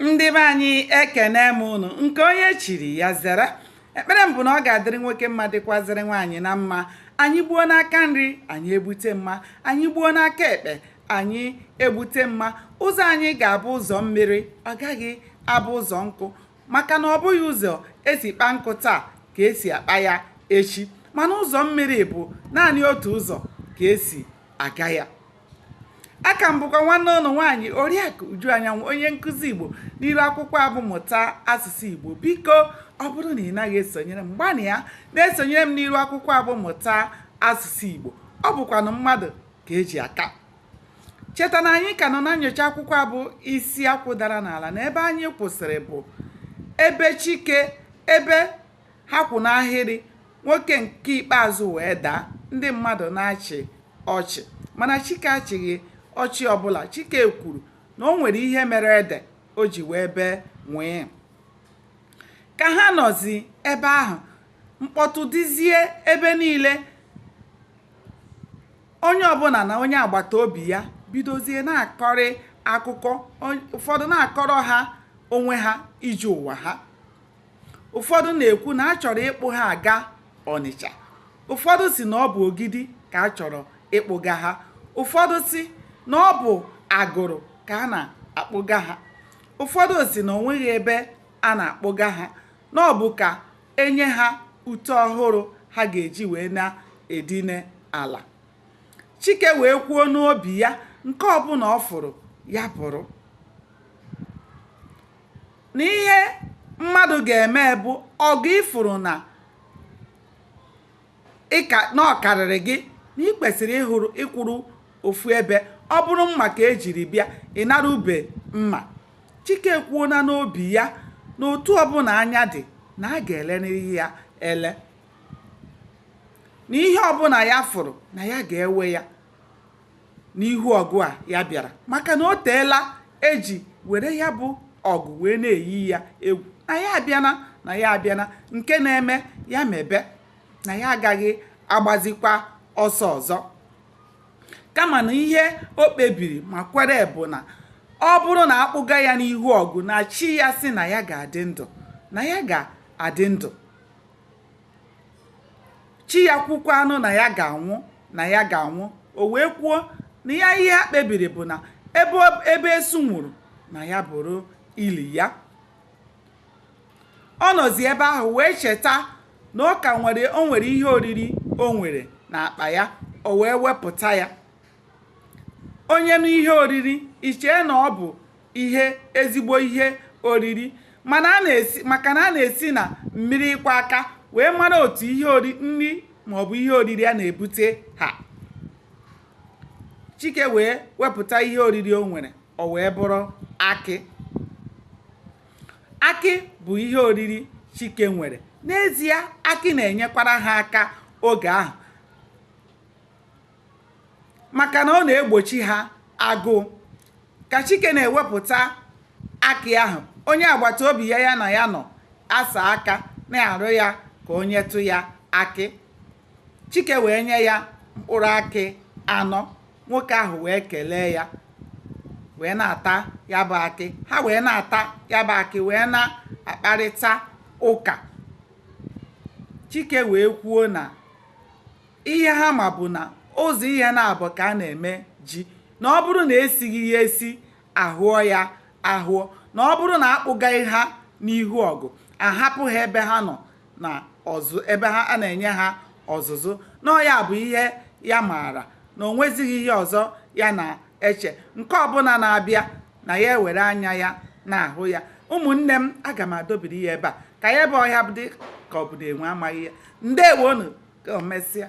ndị be anyị ekene m unu nke onye chiri ya zere ekpere m bụ na ọ ga-adịrị nwoke mma dịkwazịrị nwaanyị na mma anyị gbuo n'aka nri anyị egbute mma anyị gbuo n'aka ekpe anyị egbute mma ụzọ anyị ga-abụ ụzọ mmiri ọ gaghị abụ ụzọ nkụ maka na ọ bụghị ụzọ esi kpa nkụ taa ka esi akpa ya echi mana ụzọ mmiri bụ naanị otu ụzọ ka esi aga ya aka m bụkwa nwanne ụnụ nwaanyị oriakụ uju anyanwụ onye nkụzi igbo n'iru akwụkwọ a bụ mụta asụsụ igbo biko ọ bụrụ na ị naghị esonyere m gbanịa na-esonyere m n'iru akwụkwọ abụ mụta asụsụ igbo ọ bụkwanụ mmadụ ka eji aka cheta na anyị ka nọ na nyocha akwụkwọ a bụ isi akwụ dara n'ala na ebe anyị kwụsịrị bụ ebe chike ebe ha kwụ n'ahịrị nwoke nke ikpeazụ wee daa ndị mmadụ na-achị ọchị mana chike achịghị ọchị ọbụla chike kwuru na o nwere ihe mere ede o ji wee bee nwịị ka ha nọzi ebe ahụ mkpọtụ dịzie ebe niile onye ọbụla na onye agbata obi ya bidozie na-akọrị akụkọ ụfọdụ na-akọrọ ha onwe ha ije ụwa ha ụfọdụ na-ekwu na a chọrọ ịkpụ ha aga ọnịcha ụfọdụ si na ọ bụ ogidi ka a chọrọ ịkpụga ha ụfọdụ si na ọ bụ agụrụ ka a na-akpụga ha ụfọdụ si na onweghị ebe a na-akpụga ha na ọ bụ ka enye ha ute ọhụrụ ha ga-eji wee na-edine ala chike wee kwuo n'obi ya nke ọbụla ọ fụrụ ya bụrụ na ihe mmadụ ga-eme bụ ọgụ ị fụrụ na ịka na ọ karịrị gị na ị kwesịrị ịhụrụ ịkwụrụ ofu ebe ọ bụrụ mma ka ejiri bịa ị nara ube mma chike ekwuona n'obi ya na otu ọbụla anya dị na a ga-elerịrị ya ele na ihe ọbụla ya fụrụ na ya ga-ewe ya n'ihu ọgụ a ya bịara maka na o teela eji were ya bụ ọgụ wee na-eyi ya egwu na ya abịana na ya abịana nke na-eme ya mebe na ya agaghị agbazikwa ọsọ ọzọ kama na ihe o kpebiri ma kwere bụ na ọ bụrụ na a kpụga ya n'ihu ọgụ na chi ya si na ya ga-adị ndụ na ya ga-adị ndụ chi ya kwukwanụ na ya ga-anwụ na ya ga-anwụ o wee kwuo na ya ihe ha kpebiri bụ na ebe ebe esu nwụrụ na ya bụrụ ili ya ọ nọzi ebe ahụ wee cheta na ọ ka nwere o nwere ihe oriri o nwere n'akpa ya o wee wepụta ya onye nụ ihe oriri i chee na ọ bụ ihe ezigbo ihe oriri maka na a na-esi na mmiri ịkwọ aka wee mara otu ihe ori nri maọbụ ihe oriri a na-ebute ha chike wee wepụta ihe oriri o nwere o wee bụrụ akị akị bụ ihe oriri chike nwere n'ezie akị na-enyekwara ha aka oge ahụ maka na ọ na-egbochi ha agụụ ka chike na-ewepụta akị ahụ onye agbata obi ya ya na ya nọ asaa aka na-arịọ ya ka o nyetụ ya akị chike wee nye ya mkpụrụ akị anọ nwoke ahụ wee kelee ya wee na-ata ya bụ akị ha wee na-ata ya bụ akị wee na-akparịta ụka chike wee kwuo na ihe ha ma bụ na ụzọ ihe naabọ ka a na-eme ji na ọ bụrụ na esighị ya esi ahụọ ya ahụọ na ọ bụrụ na akpụgaghị ha n'ihu ọgụ ahapụ ha ebe ha nọ na ebe ha a na-enye ha ọzụzụ na ọ ya bụ ihe ya maara na o nwezighị ihe ọzọ ya na-eche nke ọbụla na-abịa na ya ewere anya ya na-ahụ ya ụmụnne m aga m adọbiri ya ebe a ka ya ebe ọhịa dị ka ọ bụ na enwe amaghị ya ndewonụ ka o mesịa